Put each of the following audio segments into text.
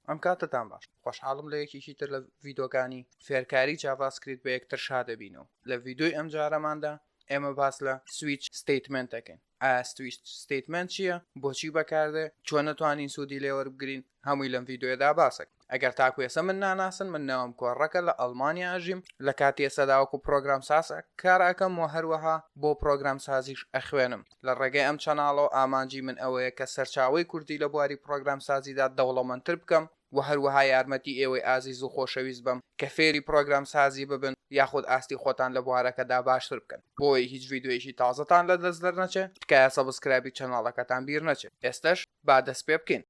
ئەم کاتتان باش خۆشحاڵم لە یەکێکی تر لە ڤیدۆکانی فێرکاری جاڤاسکریت بە یەکتر شا دەبین و لە ڤیدۆی ئەم جارەماندا ئێمە باس لە سویچ ستیتمنت دەکەین ئاستویچ ستیتمنت چییە بۆچی بەکاردێ چۆن نەتوانین سوودی لێوەربگرین هەمووی لەم ڤیددیودا باسێک ئەگەر تاکوێسە من ناناسن من ناوم کۆڕەکە لە ئەلمانیا ئەژیم لە کاتی ئێسەداوەکو پرۆگرام ساز کارەکەم و هەروەها بۆ پرۆگرام سازیش ئەخوێنم لە ڕێگەی ئەم چەناڵەوە ئامانجی من ئەوەیە کە سەرچاوەی کوردی لە بواری پڕۆگرامسازیدا دەوڵەمەندتر بکەم و هەروەها یارمەتی ئێوەی ئازیز و خۆشەویست بەم کە فێری پڕۆگرامسازی ببن یاخود ئاستی خۆتان لە بوارەکەدا باشتر بکەن. بۆی هیچ ڤیدیۆیەکی تازەتان لەدەست دەرنەچێت تکایە سەبسکرایبی چەناڵەکەتان بیرنەچێت ئێستەش با دەست پێبکەین.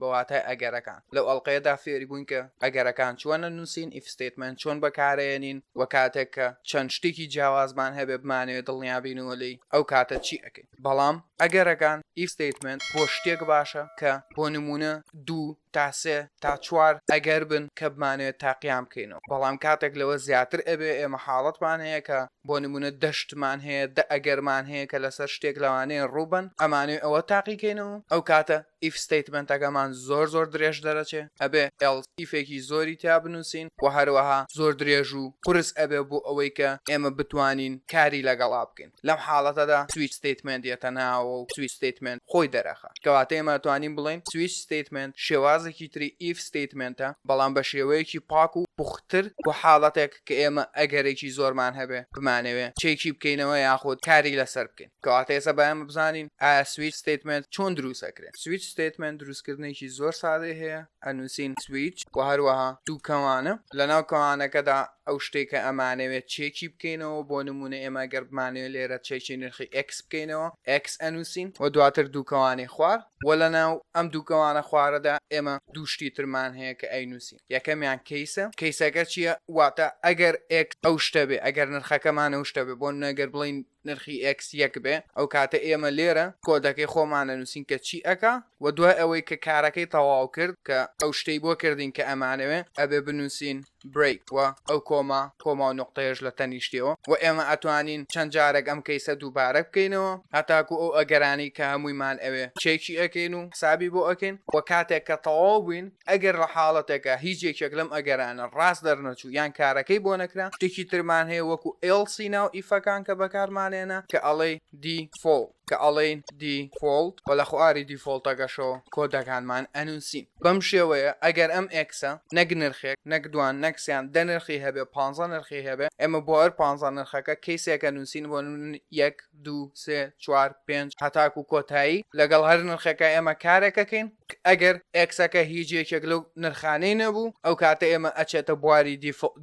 بە واتای ئەگەرەکان. لەو ئەڵقەیەدا فێری بووین کە ئەگەرەکان چۆن ئەنووسین، ئیف ستەیتمێنت چۆن بەکارئەیەنین و کاتێک کە چەند شتێکی جیاوازمان هەبێ بمانەوێ دڵنیا بینەوە لێی ئەو کاتە چی ئەکەین. بەڵام ئەگەرەکان، ئیف ستەیتمێنت، بۆ شتێک باشە کە بۆ نموونە دوو تا سێ تا چوار ئەگەر بن کە بمانەوێ تاقیان بکەینەوە. بەڵام کاتێک لەوە زیاتر ئەبێ ئێمە حاڵەتمان هەیە کە بۆ نموونە دە شتمان هەیە، دە ئەگەرمان هەیە کە لەسەر شتێک لەوانەیە ڕوو بن ئەمانەوێ ئەوە تاقی کەینەوە ئەو کاتە. ئیف ستەیتمەنتەکەمان زۆر زۆر درێژ دەرەچێ ئەبێ ئێڵس ئیفێکی زۆری تیا بنوسین وە هەروەها زۆر درێژ و قورس ئەبێ بۆ ئەوەی کە ئێمە بتوانین کاری لەگەڵا بکەین لەم حاڵەتەدا سویچ ستەیتمێنت یەتە ناوەوە و سویچ ستەیتمێنت خۆی دەرەخا کەواتە ئێمە ئەتوانین بڵێین سویچ ستەیتمێنت شێوازێکی تری ئیف ستەیتمێنتە بەڵام بە شێوەیەکی پاک و پوختتر بۆ حاڵەتێک کە ئێمە ئەگەرێکی زۆرمان هەبێ بمانەوێ چێکی بکەینەوە یاخود کاری لەسەر بکەین. کەواتە ئێستا با ئێمە بزانین ئایا سویچ ستیتمنت چۆن دروست ئەکرێت سویچ ستیتمنت دروستکردنێکی زۆر سادەی هەیە ئەنووسین سویچ و هەروەها دووکەوانە لە ناو کەوانەکەدا ئەو شتێکە ئەمانەوێت چێکی بکەینەوە بۆ نمونە ئێمە گەربمانەوە لێرە چێکی نرخی ئەکس بکەینەوە ئەکس ئەنووسین و دواتر دووکەوانی خوار و لە ناو ئەم دووکەوانە خوارەدا ئێمە دووشتی ترمان هەیە کە ئەی نووسین یەکەمیان کەیسە کەیسەکە چییە واتە ئەگەر ئەک ئەو شتە بێ ئەگەر نرخەکەمان ئەو شتە بێ بۆ نەگەر بڵین نرخی ئێکس یەک بێ ئەو کاتە ئێمە لێرە کۆدەکەی خۆمان ئەنووسین کە چی ئەکا و دوای ئەوەی کە کارەکەی تەواو کرد کە ئەو شتەی بۆ کردین کە ئەمانەوێ ئەبێ بنووسین برەیک و ئەو کۆما کۆما و نوقتەیەش لە تەنیشتیەوە و ئێمە ئەتوانین چەند جارێک ئەم کەیسە دووبارە بکەینەوە هەتاکوو ئەو ئەگەرانەی کە هەموویمان ئەوێ چێکی ئەکەین و حسابی بۆ ئەکەین و کاتێک کە تەواو بووین ئەگەر لە حاڵەتێکا هیچ یەکێک لەم ئەگەرانە ڕاست دەرنەچوو یان کارەکەی بۆ نەکرا شتێکی ترمان هەیە وەکو else ناو ئیفەکان کە بەکارمانێنە کە ئەڵێی دیفۆڵ کە ئەڵێین دیفۆڵت و لە خواری دیفۆڵتەکەشەوە کۆدەکانمان ئەنووسین بەم شێوەیە ئەگەر ئەم ئێکسە نەک نرخێک نەک دوان نەک سیان دە نرخی هەبێ پانزە نرخی هەبێ ئێمە بۆ هەر پانزە نرخەکە کەیسێکە نووسین بۆ یەک دوو سێ چوار پێنج هەتاکو کۆتایی لەگەڵ هەر نرخێکە ئێمە کارێکەکەین ئەگەر ئێکسەکە هیچ یەکێک لەو نرخانەی نەبوو ئەو کاتە ئێمە ئەچێتە بواری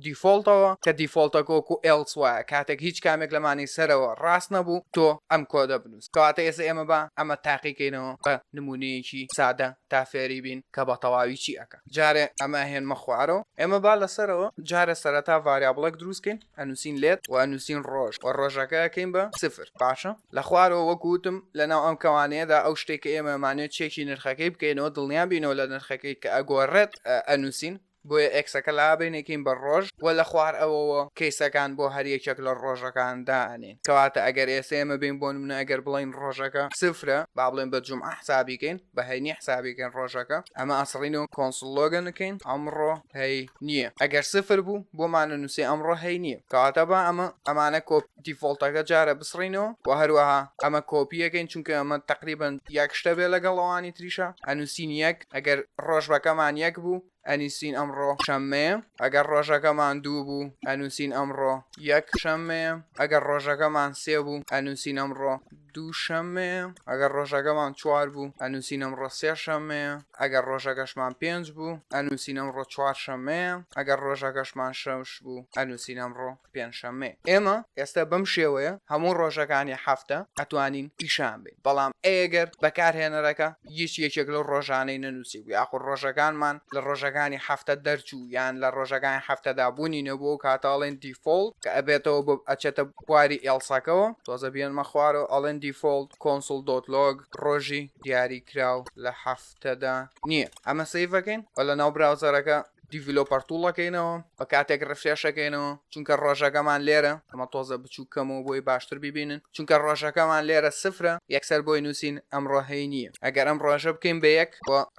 دیفۆلتەوە کە دیفۆلتەکە وەکو ئێڵس وایە کاتێک هیچ کامێک لەمانی سەرەوە ڕاست نەبوو تۆ ئەم کۆدە بنووس کەواتە ئێستا ئێمە بە ئەمە تاقیکەینەوە بە نمونەیەکی سادە تا فێری بین کە بە تەواوی چی ئەەکە جارێ ئەمە هێنمە خوارەوە ئێمە با لەسەرەوە جارە سەرەتا ڤاریابڵێک دروستکەین ئەنووسین لێت و ئەنووسین ڕۆژ و ڕۆژەکە ئەکەین بە سفر باشە؟ لە خوارەوە وەکو وتم لەناو ئەم کەوانەیەدا ئەو شتەی کە ئێمە ئەمانەوێت چێکی نرخەکەی بکەینەوە دڵنیا بینەوە لە نرخەکەی کە ئەگۆڕێت ئەنووسین بۆیە ئێکسەکە لابەین ئەکەین بە ڕۆژ و لە خوار ئەوەوە کەیسەکان بۆ هەر یەکێک لە ڕۆژەکان دائەنێین کەواتە ئەگەر ئێستا ئێمە بین بۆ نمونە ئەگەر بڵێین ڕۆژەکە سفرە با بڵێن بە جومعە حسابی کەین بە هەینی حسابی کەین ڕۆژەکە ئەمە ئەسڕینەوە کۆنسڵ لۆگن بکەین ئەمڕۆ هەی نییە ئەگەر سفر بوو بۆمانە نووسێ ئەمڕۆ هەی نییە کەواتە با ئەمە ئەمانە کۆپ دیفۆڵتەکە جارە بسڕینەوە و هەروەها ئەمە کۆپییەکەین چونکە ئەمە تەقریبەن یەک شتە بێ لەگەڵ ئەوانی تریشە ئەنووسین یەک ئەگەر ڕۆژبەکەمان یەک بوو ئەنیسین ئەمڕۆ شەممەیە ئەگەر ڕۆژەکەمان دوو بوو ئەنووسین ئەمڕۆ یەک شەممەیە ئەگەر ڕۆژەکەمان سێ بوو ئەنووسین ئەمڕۆ دووشەممەیە، ئەگەر ڕۆژەکەمان چوار بوو، ئەنووسین ئەمڕۆ سێشەممەیە، ئەگەر ڕۆژەکەشمان پێنج بوو، ئەنووسین ئەمڕۆ چوارشەممەیە، ئەگەر ڕۆژەکەشمان شەش بوو، ئەنووسین ئەمڕۆ پێنجشەممەیە. ئێمە ئێستا بەم شێوەیە هەموو ڕۆژەکانی هەفتە ئەتوانین پیشان بەین، بەڵام ئەگەر بەکارهێنەرەکە هیچ یەکێک لەو ڕۆژانەی نەنووسیبوو یاخود ڕۆژەکانمان لە ڕۆژەکانی هەفتە دەرچوو یان لە ڕۆژەکانی هەفتەدا بوونی نەبووە ئەو کاتە ئەڵێین دیفۆڵت کە ئەبێتەوە بۆ ئەچێتە خواری ئێڵساکەوە تۆزە بیێنمە خوارەوە ئەڵێن دیفۆڵت کۆنسڵ دۆت لۆگ ڕۆژی دیاری کراو لە هەفتەدا نییە ئەمە سیڤەکەین و لە ناو براوزەرەکە دیڤلۆپەر توڵەکەینەوە بە کاتێک ڕفرێشەکەینەوە چونکە ڕۆژەکەمان لێرە ئەمە تۆزە بچوو کەمەوە بۆی باشتر ببینن چونکە ڕۆژەکەمان لێرە سفرە یەکسەر بۆی نووسین ئەم ڕۆهەی نییە ئەگەر ئەم ڕۆژە بکەین بە یەک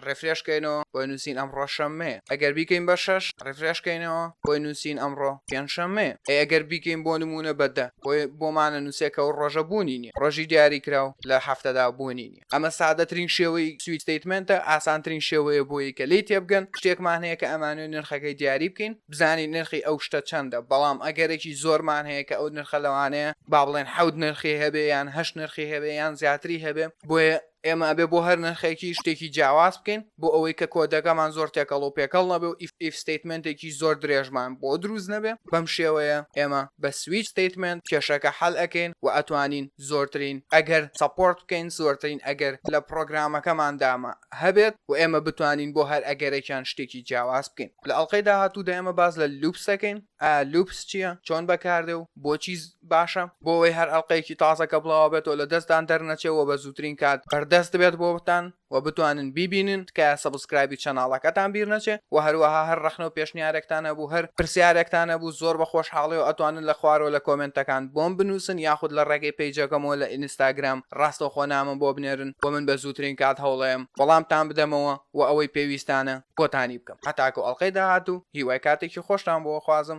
ڕێفرێش کەینەوە بۆی نووسین ئەمڕۆ شەممەیە ئەگەر بیکەین بە شەش ڕێفرێش کەینەوە بۆی نووسین ئەمڕۆ پێنج شەممەیە ئەی ئەگەر بیکەین بۆ نموونە بە دە بۆی بۆمانە نووسێ کە ئەو ڕۆژە بوونی نییە ڕۆژی دیاری کراو لە هەفتەدا بوونی نییە ئەمە سادەترین شێوەی سویچ ستەیتمێنتە ئاسانترین شێوەیە بۆی کە لێی تێبگەن شتێکمان هەیە کە ئەمانەوێ نرخەکەی دیاری بکەین بزانین نرخی ئەو شتە چەندە بەڵام ئەگەرێکی زۆرمان هەیە کە ئەو نرخە لەوانەیە با بڵێن حەوت نرخی هەبێ یان هەشت نرخی هەبێ یان زیاتری هەبێ بۆیە ئێمە ئەبێ بۆ هەر نرخێکی شتێکی جیاواز بکەین بۆ ئەوەی کە کۆدەکەمان زۆر تێکەڵ و پێکەڵ نەبێ و ئیف ستەیتمێنتێکی زۆر درێژمان بۆ دروست نەبێ بەم شێوەیە ئێمە بە سویچ ستەیتمێنت کێشەکە حەل ئەکەین و ئەتوانین زۆرترین ئەگەر سەپۆرت بکەین زۆرترین ئەگەر لە پڕۆگرامەکەماندا هەبێت و ئێمە بتوانین بۆ هەر ئەگەرێکیان شتێکی جیاواز بکەین لە ئەڵقەی داهاتوودا ئێمە باس لە لوپس دەکەین. ئا لوپس چیە چۆن بەکاردێ و بۆچی باشە بۆ ئەوەی هەر ئەڵقەیەکی تازە کە بڵاوە بێتەوە لە دەستدان دەرنەچێ وە بە زووترین کات بەردەست بێت بۆتان وە بتوانن بیبینن تکایە سەبسکرایبی چەناڵەکەتان بیر نەچێ وە هەروەها هەر ڕەخنە و پێشنیارێکتان هەبوو هەر پرسیارێکتان هەبوو زۆر بە خۆشحاڵیەوە ئەتوانن لە خوارەوە لە کۆمێنتەکان بۆم بنووسن یاخود لە ڕێگەی پەیجەکەمەوە لە ئینستاگرام ڕاستەوخۆ نامەم بۆ بنێرن وە من بە زووترین کات هەوڵەیەم وەڵامتان بدەمەوە وە ئەوەی پێویستانە کۆتانی بکەم هەتاکو ئەڵلقەی داهاتوو هیوای کاتێکی خۆشتان بۆ خوازم.